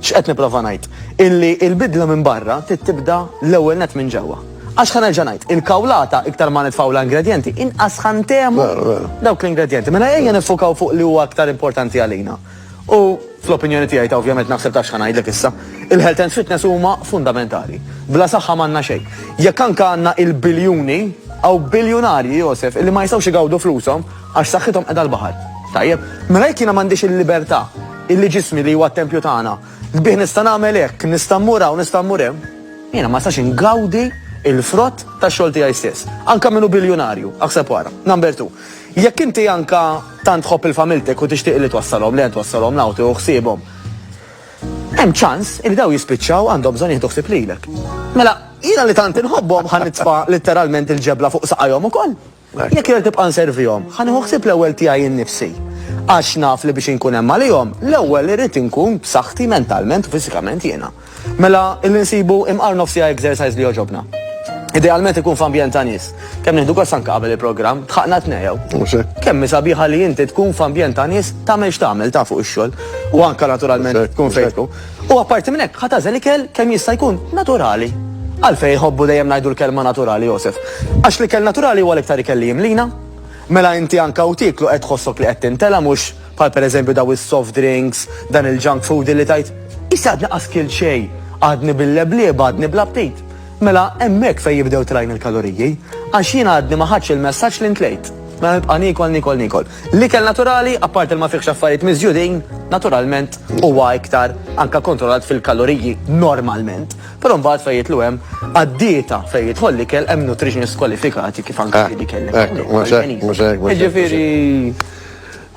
X'qed nipprova ngħid? Illi il-bidla minn barra tibda l-ewwel net minn ġewwa. Għax ħan nerġa' ngħid, il-kawlata iktar ma nitfgħu l-ingredjenti, inqas ħantemu dawk l-ingredjenti. Mela ejja nifukaw fuq li huwa aktar importanti għalina. U fl-opinjoni tiegħi ta' ovvjament naħseb ta' x'ħan ngħidlek issa, il-health and fitness huma fundamentali. Bla saħħa m'għandna xejn. Jekk anke għandna il-biljuni, għaw biljunarji Josef, illi ma jistgħux igawdu flushom Għax saħħithom qiegħda l-baħar. Tajjeb, mela jekk jiena m'għandix il-libertà, illi ġismi li huwa t-tempju tagħna, bih nista' nagħmel hekk, nista' mmur hawn, nista' mmur hemm, jiena ma nistax ingawdi l-frott tax-xogħol tiegħi stess. Anke min hu biljunarju, aħseb u ara. Number two, jekk inti anke tant tħobb il-familtek u tixtieq li twassalhom lejn, twassalhom l-hawn, tieħu ħsiebhom, hemm ċans li dawn jispiċċaw għandhom bżonn jieħdu ħsieb lilek. Mela, jiena li tant inħobbhom ħa nitfa' litteralment il-ġebla fuq saqajhom ukoll. Jekk irrid nibqa' nservihom, ħa nieħu ħsieb l-ewwel tiegħi nnifsi. Għax naf li biex inkun hemm għalihom, l-ewwel irrid inkun b'saħħti mentalment u fiżikament jiena. Mela, illi nsibu imqar nofs siegħa exercise li jogħġobna. Idealment ikun f'ambjent ta' nies. Kemm nieħdu gost anke qabel il-programm, tħaqna t-tnejn. Mhux hekk? Kemm hi sabiħa li inti tkun f'ambjent ta' nies tagħmel x'tagħmel, ta' fuq ix-xogħol. U anke naturalment tkun fejn tkun. U apparti minn hekk, ħa tagħżel ikel kemm jista' jkun naturali. Għalfejn iħobbu dejjem ngħidu l-kelma naturali, Josef? Għax l-ikel naturali huwa l-iktar ikel li jimlina. Mela inti anke u tieklu qed tħossok li qed tintela' mhux bħal pereżempju daw is-soft drinks, dan il-junk food illi tgħid, Issa għadni qas kilt xejn, għadni bil-leblieb, għadni bl-aptit. Mela hemmhekk fejn jibdew tlajn il-kaloriji, għax jiena għadni ma ħadtx il-messaġġ li ntlejt. Mela nibqa' niekol, niekol, niekol. L-ikel naturali, apparti li ma fihx affarijiet miżjudin, naturalment huwa iktar anke kontrollat fil-kaloriji normalment. Però mbagħad fejn jidħlu hemm għad-dieta fejn jidħol l-ikel hemm nutritionists kwalifikati kif anke li kellek. Hekk, mhux hekk, mhux hekk. Jiġifieri.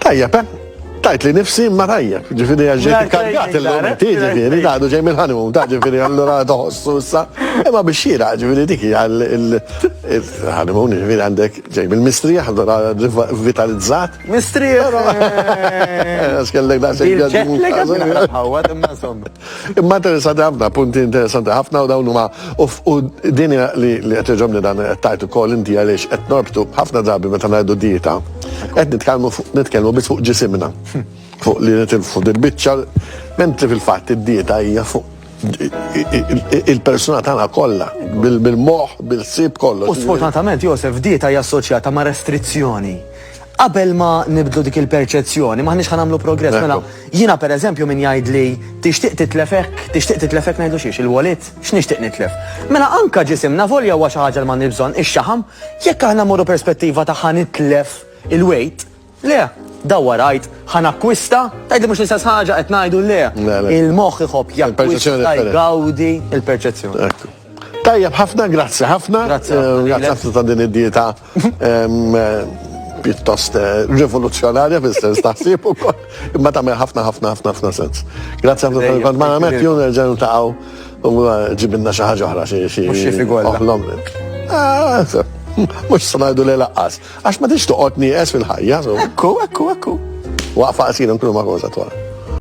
Tajjeb, eh? Tajt li nifsi ma tajjeb, ġifiri għagġet kargat il-lum, ti ġifiri, daħdu ġej mill-ħanum, ta' ġifiri għallura toħossu sa, imma biex xira, ġifiri diki għal il-ħanum, ġifiri għandek Ġej bil-mistrieħ allura rivitalizzat. Mistrieħ! Però għax kellek daqsxejn Bil-jet ġaġmu. lag għad naqra bħawwad, imma insomma. Imma interessanti ħafna, punti interessanti ħafna u dawn huma u f- u din hija li li qed iġobni dan qed tgħid ukoll inti għaliex qed norbtu ħafna drabi meta ngħidu dieta. Qed nitkellmu fuq nitkellmu biss fuq ġisimna. Fuq li nitilfu dil-biċċa, mentri fil-fatt id-dieta hija fuq il-persuna tagħna kollha bil-moħħ, bil-sib kollu. U sfortunatament Josef dieta hija assoċjata ma' restrizzjoni. Qabel ma nibdlu dik il-perċezzjoni, maħniex ħan nagħmlu progress mela. Jiena pereżempju min jgħid li tixtieq titlefek, tixtieq titlefek ngħidu xiex il-walid, x'nixtieq nitlef. Mela anka ġisimna volja huwa xi ħaġa li ma nibżon ix-xaħam, jekk aħna morru perspettiva ta' ħanitlef il-weight, Le, dawwar għid, ħa nakkwista, tgħidli mhux l-istess ħaġa qed ngħidu le. Il-moħħ iħobb jakkwista, jgawdi il-perċezzjoni. Ekku. Tajjeb, ħafna, grazzi ħafna. Grazzi eh, ħafna ta' din id-dieta pjuttost eh, rivoluzzjonarja fil-sens taħsib u kol, imma tagħmel ħafna ħafna ħafna ħafna sens. Grazzi ħafna tal kont ma għamet jun nerġgħu taqgħu u eh, ġibinna xi ħaġa oħra xi xi. Mhux xi figol. Mhux sanajdu li laqqas. Għax ma tridx toqgħod nieqes fil-ħajja, so. Ekku, ekku, ekku. Waqfa qasira nkunu ma' Rosa twal.